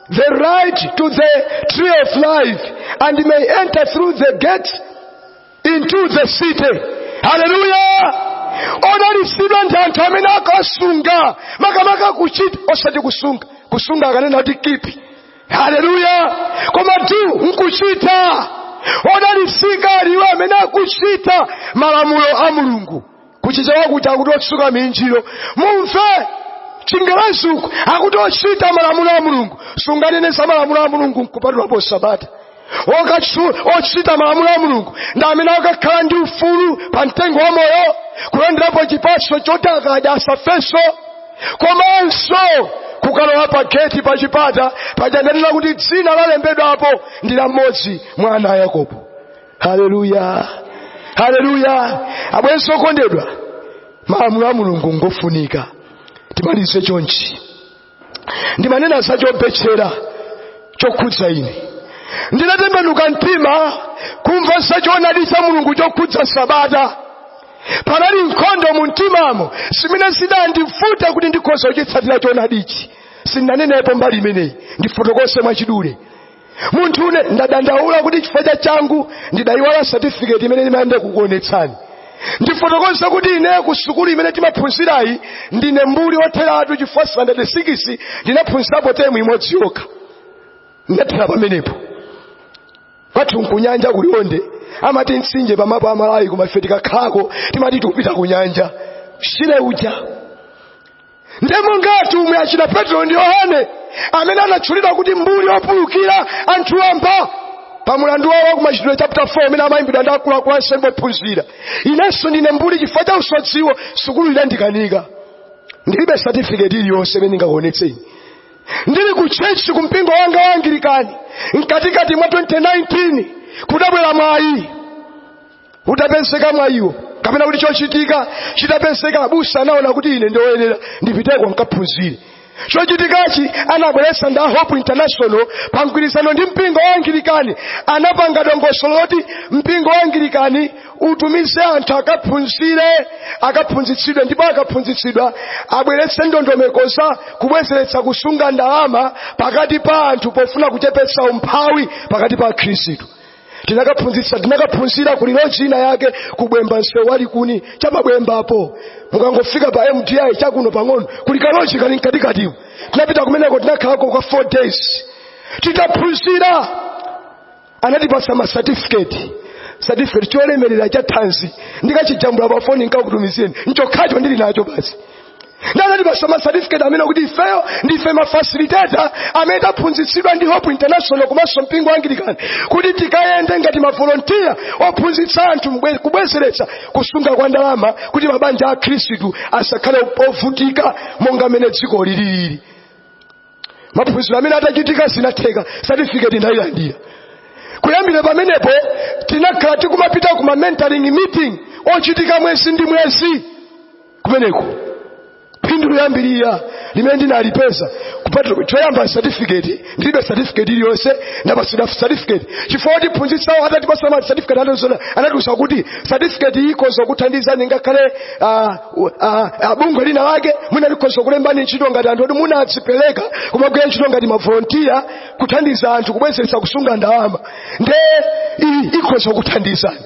the right to the tree of life and may enter through the gate into the city. Hallelujah! odalitsidwa ndi anthu amene akasunga makamaka kuchita osati kusunga kusunga akanena kuti kipi haleluya koma do nkuchita odalitsika ali iwo amene akuchita malamulo a mulungu kuchichewa akuti akuti otsuka minjiro mumve chingerezi uku akuti ochita malamulo a mulungu sunganene za malamulo a mulungu nkupatulapo sabata Okatchu- ochita malamulo a mulungu ndi amene akakhala ndi ufulu pa mtengo wa moyo kulandirapo chipatso choti akadya asafenso komanso kukalowa pa geti pa chipata poti andanena kuti dzina lalembedwapo ndi la mmodzi mwa ana a yakobo haleluya haleluya abwenzi okondedwa malamulo a mulungu ngofunika timalize chonchi ndimanena za chobetchera chokhudza ine ndinatembenuka mtima kumva za choonadi cha mulungu chokhudza sabata panali nkhondo mu mtimamo zimene zidandivuta kuti ndikhoza kuchitsatira choonadichi sindinanenepo mbali imeneyi ndifotokoze mwachidule munthune ndadandaula kuti chifukwa cha changu ndidayiwala satifiketi imene ndimayenera kukuonetsani ndifotokoza kuti ine ku sukulu imene timaphunzirayi ndine mbuli wotheratu chifukwa standard 6 ndinaphunzirapo temu imodzi yokha ndinathera pamenepo kwathu nkunyanja ku liwonde amati mtsinje pa mapu a malawi koma ife tikakhalako timati tikupita kunyanja shire uja ndiye monga atumwi achina petro ndi yohane amene anatchulidwa kuti mbuli opulukira anthu wamba pa mulandu wawo wa kumachitidwe chapter 4 umene amayimbidwa ndi akuluakulu ansembe ophunzira inenso ndine mbuli chifukwa cha usodziwo sukulu idandikanika ndilibe satifiketi iliyonse imene ndingakuonetseni ndili ku chechi ku mpingo wanga wa angilikani mkatikati mwa 2019 kudabwera mwayi utapezeka mwa iwo kapena kuti chochitika chitapezeka abusa anaona kuti ine ndi oyenera ndipiteko nkaphunzire chochitikachi anabweretsa ndi a hope international pa mgwirizano ndi mpingo wa angilikani anapanga dongosolo loti mpingo wa angilikani utumize anthu akaphunzire akaphunzitsidwe ndipo akaphunzitsidwa abweretse ndondomeko zakubwezeretsa kusunga ndalama pakati pa anthu pofuna kuchepetsa umphawi pakati pa akhristu tinakaphunzitsa tinakaphunzira ku loji ina yake ku bwemba msewu wa likuni cha pa bwembapo mukangofika pa mdi chakuno pang'ono kuli kaloji kali mkatikatimo tinapita kumeneko tinakhalako kwa 4 days titaphunzira anatipatsa ma certificate certificate cholemerera chathanzi ndikachijambula pa foni nkakutumizireni nchokhacho ndili nacho basi ndiye anatipatsa ma certificate onena kuti ifeyo ndife ma facilitator amene taphunzitsidwa ndi hope international komanso mpingo wa anglican kuti tikayende ngati ma volunteer ophunzitsa anthu mbwe- kubwezeretsa kusunga kwa ndalama kuti mabanja a khristu asakhale ovutika monga mmene dziko lililili maphunziro amenewa atachitika zinatheka certificate ndayilandira kuyambira pamenepo tinakhala tikumapita ku ma mentoring meeting ochitika mwezi ndi mwezi kumeneko phindu loyambirira limene ndinalipeza kupeza choyamba certificate ndilibe certificate iliyonse ndapatsidwa certificate chifukwa otiphunzitsawo atatipatsa ma certificate atasona anatiuza kuti certificate iyi ikhoza kukuthandizani ngakhale ah, ah, ah, bungwe lina lake mwina likhoza kulembani ntchito ngati anthu oti munadzipereka kumagwira ntchito ngati mavolontiya kuthandiza anthu kubwezeretsa kusunga ndalama nde iyi ikhoza kuthandizani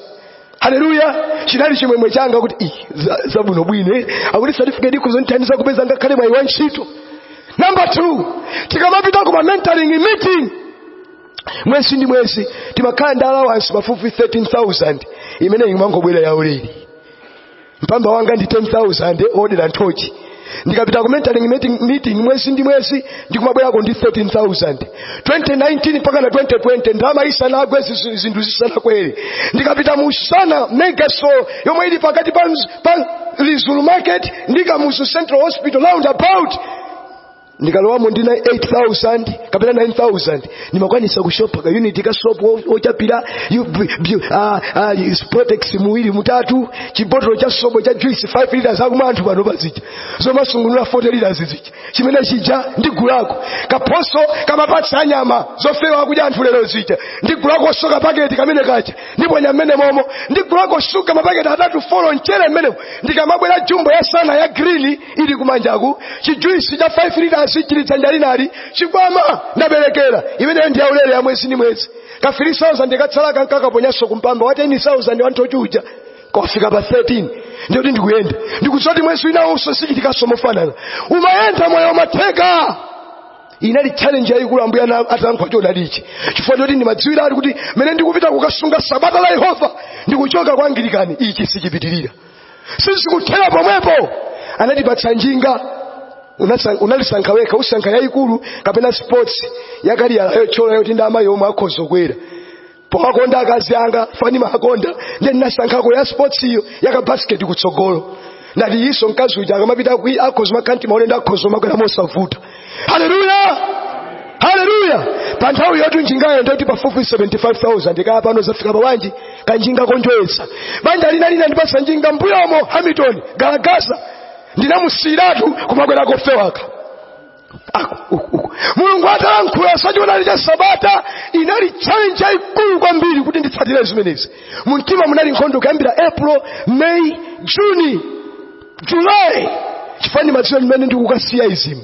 haleluya chinali chimwemwe changa kuti "Ih, za- zabwinobwino eh, akuti certificate ikhoza kundithandiza kupeza ngakhale mwayi wa ntchito number two tikamapita ku ma mentoring meeting mwezi ndi mwezi timakhala ndi allowance pafupi 13000 imene imangobwera yaulere mpamba wanga ndi 10000 odera nthochi ndikapita ku mentoring meeting, meeting mwezi ndi mwezi ndikumabwerako ndi 13000 2019 mpakana 2020 ndalama isanagwe zizu- zinthu zisanakwere ndikapita mu sana mega store yomwe ili pakati pa, mz- pa lizulu market ndi kamuzu central hospital round about ndikalowamo ndi 8000 kapena 9000 ndimakwanisa kushopa ka unit ka soap wo- wochapira yu- bu- bu- ah, ah, yu- spotex muwiri mutatu chibotolo cha sobo cha juice 5 liters akumamwa anthu pano paja zomasungunula 40 liters zija chimene chija ndigulako kapaketi kama pieces anyama zofewa akudya anthu lero zija ndigulako so kapaketi kamene kaja ndiponya mmenemomo ndigulako shuga mapaketi atatu folo mchere mmenemo ndikamabwera jumbo ya sana ya green ili kumanjaku chijuisi cha 5 liters chili dzanja linali chikwama, ndaberekera imeneyo ndi yaulere ya mwezi ndi mwezi ka 3000 kotsala ndikakaponyanso kumpamba wa 10000 wanthochi uja kofika pa 13 ndikuti ndikuyenda ndikudziwa kuti mwezi winawonso zichitikanso mofanana umayenda moyo umatheka inali challenge yayikulu ambuye ana- atalankhula choonadichi chifukwa choti ndimadziwira ali kuti mmene ndikupita kukasunga sabata la yehova ndikuchoka kwa angilikani ichi sichipitirira sizikuthera pomwepo anatipatsa njinga Unasa- unalisankha wekha usankha yayikulu kapena sports yakaliyala yochola yoti ndi amayi omwe akhoza kukwera pomakonda akazi anga fane ndimamukonda ndiye ndinasankhako ya sports iyo yaka basket kutsogolo ndati so mkazi uja akamapita kwi akhoza makhanti maone ndi akhoza kumakwera mosavuta haleluya haleluya pa nthawi yoti njingayo ndoti pafupi 75000 kaya pano zafika pa bwanji kanjinga konjoyetsa banja lina linandipatsa njinga mbuyomo hamilton galagasa ndinamusiyiratu kumakwera kofewaka ako uku, uku. mulungu atalankhula za choonadi cha sabata inali challenge yayikulu kwambiri kuti nditsatire zimenezi mumtima munali nkhondo kuyambira april may juni julayi chifukwa ndimadziwa mmene ndikukasiya izimu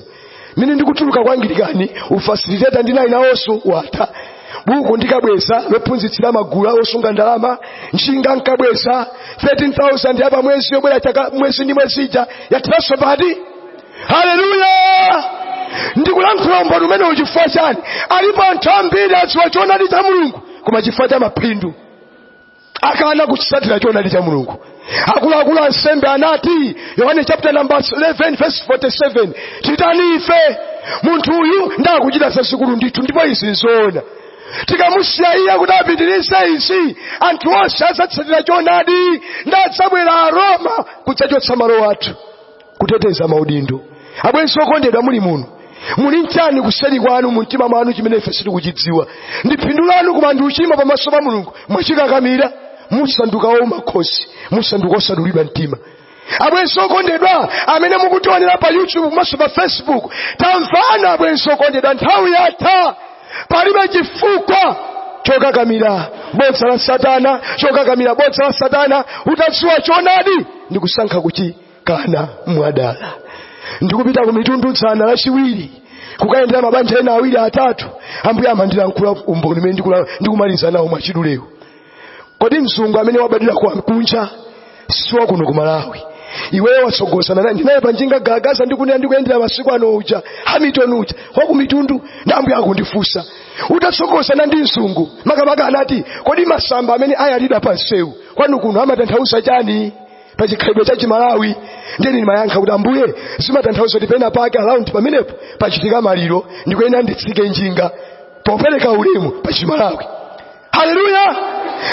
mmene ndikutuluka kwa angilikani ufasiliteta ndinali nawonso wathera buku ndikabweza lophunzitsira magulu awosunga ndalama njinga nkabweza 13000 yapa mwezi yobwera chaka mwezi ndi mwezi ija yatheranso pati haleluya ndikulankhula umboni umenewu chifukwa chani alipo anthu ambiri adziwa choonadi cha mulungu koma chifukwa cha mapindu akana kutsatira choonadi cha mulungu akuluakulu ansembe anati yohane chapter number 11 verse 47 titani ife munthu uyu ndakuchita zazikulu ndithu ndipo izi nzoona tikamusiya iye kuti apitirize izi anthu onse adzatsatira choonadi ndadzabwera aroma kudzachotsa malo athu kuteteza maudindo abwenzi okondedwa muli muno muli nchani kuseri kwanu mu mtima mwanu chimene ife sitikuchidziwa ndi phindu lanu koma ndi uchimo pamaso pa mulungu mwachikakamira mwasanduka ouma khosi mwasanduka osadulidwa mtima abwenzi okondedwa amene mukutionera pa youtube komanso pa facebook tamvani abwenzi okondedwa nthawi yatha palibe chifukwa chokakamira bodza la satana chokakamira bodza la satana utadziwa choonadi ndi kusankha kuchi kana mwadala ndikupita ku mitundu dzana lachiwiri kukayendera mabanja ena awiri atatu ambuye amandilankhula umboni umene ndikula- ndikumaliza nawo mwachiduleu kodi mzungu amene wabadwira kwa mkunja siwa kuno ku malawi iweyo watsogozana naye ndinaye panjinga gagaza ndikunena ndikuyendera masiku ano uja hamilton uja wakumitundu ndambuye akundifunsa utatsogozana ndi mzungu makamaka anati kodi masamba amene ayalidwa pa msewu kwanu kuno amatanthauza chani pa chikhalidwe cha chimalawi ndiye ndimayankha kuti ambuye zimatanthauza kuti pena pake around pamenepo pachitika maliro ndikuyenera nditsike njinga popereka ulemu pa chimalawi haleluya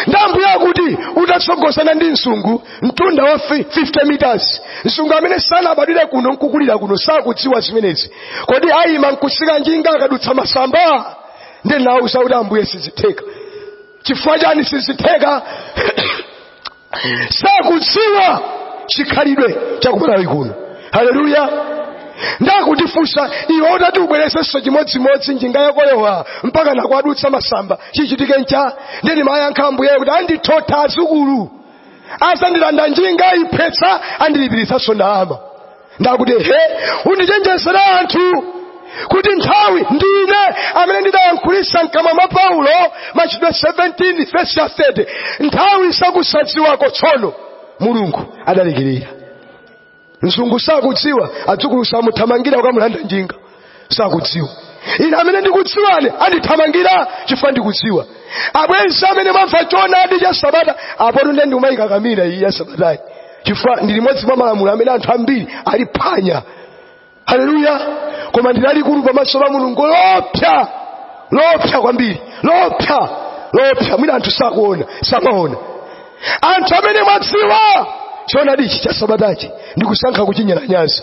ndi ambuye akuti utatsogozana ndi mzungu mtunda wa fi- 50 meters mzungu amene sanabadwire kuno nkukulira kuno sakudziwa zimenezi kodi ayima nkutsika njinga akadutsa masamba ndiye nawuza kuti ambuye sizitheka chifukwa chani sizitheka sakudziwa chikhalidwe chakumalawi kuno haleluya ndakundifunsa iwe utati ubwerezenso chimodzimodzi njinga yakoyo wa mpaka nakwadutsa masamba chichitike ncha nde nimayankha ambuyeyo kuti andithotha adzukulu azandilanda njinga iphwetsa andilipiritsanso ndalama ndakuti he undichenjezere anthu kuti nthawi ndine amene ndidayankhulisa mkamwa mwa paulo machitidwe 17 vesi ya 30 nthawi sakusadziwako tsono mulungu adalekerera mzungu sakudziwa adzukulu samuthamangira kukamulanda njinga sakudziwa ine amene ndikudziwani andithamangira chifukwa ndikudziwa abwenzi amene mwamva choonadi cha sabata apono ndiye ndikumayikakamira iyi ya sabatayi chifukwa ndi limodzi mwa malamulo amene anthu ambiri aliphwanya haleluya koma ndi lalikulu pamaso pa mulungu loopsa loopsa kwambiri loopsa loopsa mwina anthu sakuona samaona anthu amene mwadziwa choonadichi cha sabatachi ndikusankha kuchinyalanyaza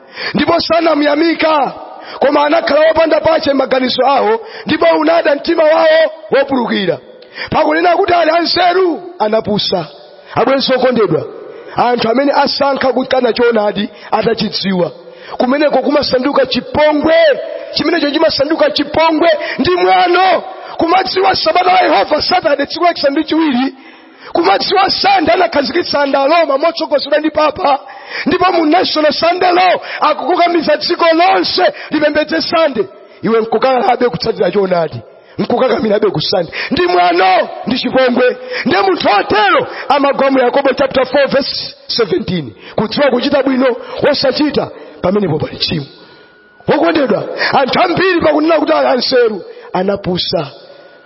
ndipo sanamyamika koma anakhala wopanda pache maganizo awo ndipo unada mtima wawo wopulukira pakunena kuti ali anzeru anapusa abwenzi okondedwa anthu amene asankha kukana choonadi atachidziwa kumeneko kumasanduka chipongwe chimenecho chimasanduka chipongwe ndi mwano kumadziwa sabata la yehova satade tsiku lachisanu ndi chiwiri kumadziwa sande anakhazikitsa nda roma motsogozedwa ndi papa ndipo mu national sunday law akukukamiza dziko lonse lipembedze sande iwe nkukanabe kutsatira choonadi nkukakamirabe kusande ndi mwano ndi chipongwe nde munthu otero amagwa mu yakobo chapter 4 verse 17 kudziwa kuchita bwino wosachita pamenepo pali tchimo wokondedwa anthu ambiri pakunena kuti ali anzeru anapusa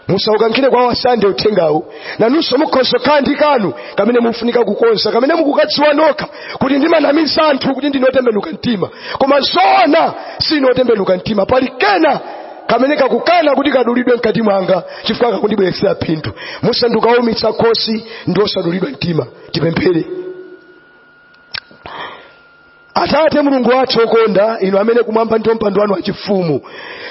musaukankhire kwa wasande uthengawu nanunso mukhoza kukhala ndi kanu kamene mufunika kukonza kamene mukukadziwa nokha kuti ndimanamiza anthu kuti ndine otembenuka mtima koma zoona sine otembenuka mtima pali kena kamene kakukana kuti kadulidwe mkati mwanga chifukwa kakundibweretsera phindu musandikaumitsa khosi ndi osadulidwa mtima tipemphere atate mulungu wathu okonda inu amene kumwamba ndi mpando wanu wachifumu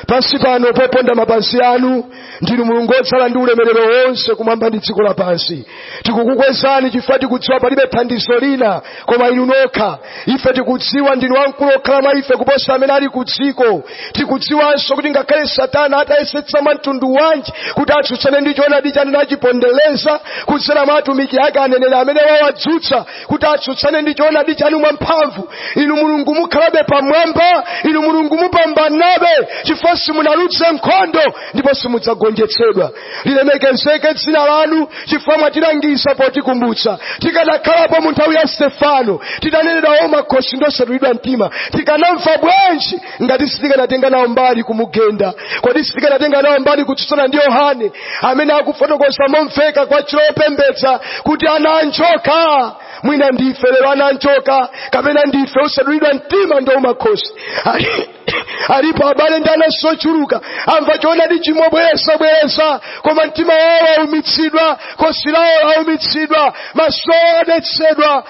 pansi pano poponda mapazi anu ndinu mulungu odzala ndi ulemerero wonse kumwamba ndi dziko lapansi tikukukwezani chifukwa tikudziwa palibe thandizo lina koma inu nokha ife tikudziwa ndinu wamkulu okhala mwa ife kuposa amene ali ku dziko tikudziwanso kuti ngakhale satana atayesetsa mwa mtundu wanji kuti atsutsane ndi choonadi chanu nachipondereza kudzera mwa atumiki ake aneneri amene wawadzutsa kuti atsutsane ndi choonadi chanu mwamphamvu inu mulungu mukhalabe pamwamba inu mulungu mupambanabe chifukwa simunaluze nkhondo ndipo simudzagonjetsedwa lilemekezeke dzina lanu chifukwa mwatilangiza potikumbutsa tikanakhalapo mu nthawi ya stefano tinanenedwa ouma khosi ndosadulidwa mtima tikanamva bwanji ngati sitikanatenga nawo mbali kumugenda kodi sitikanatenga nawo mbali kutsutsana ndi yohane amene akufotokoza momveka kwachilopembedza kuti ana anjoka mwina ndife lero ana anjoka kapena ndife osadulidwa mtima ndouma khosi alipo abale ndi anansi ochuluka amva choonadi chi mobwereza bwereza koma mtima wawo waumitsidwa khosi lawo laumitsidwa maso awo adetsedwa